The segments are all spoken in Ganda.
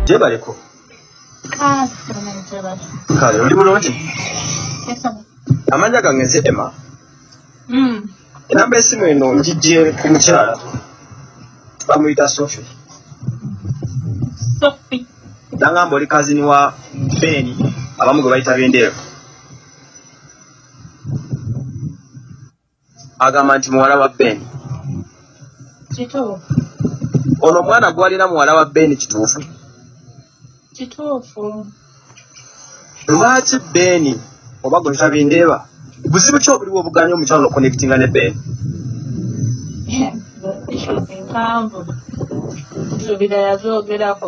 gyebaleko ah, kale oli bulungi amanya gange nze ema hmm. enamba esimu eno ngijje ku mukyala bamuyita sofi nangamba oli kazini wa beni abamu gwe bayita bendeero agamba nti muwala wa ben ono omwana gwalina muwala wa ben kituufu kituufu lwaki ben oba gwetabindeeba buzibu ki obuliwo obuganya omukyalo nokuconnectinga ne ben empanvu nsuubira yazoogerako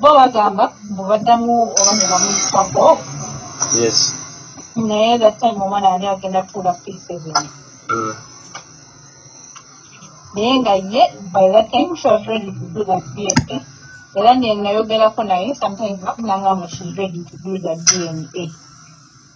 bo bagamba mbu baddamu oba ne bamuyita bo yes naye that time omwana yali agenda tuula pieces mm. naye nga ye by that time she was ready to do that dna era nenayogerako naye sometimes bakunanga mu she's ready to do that dna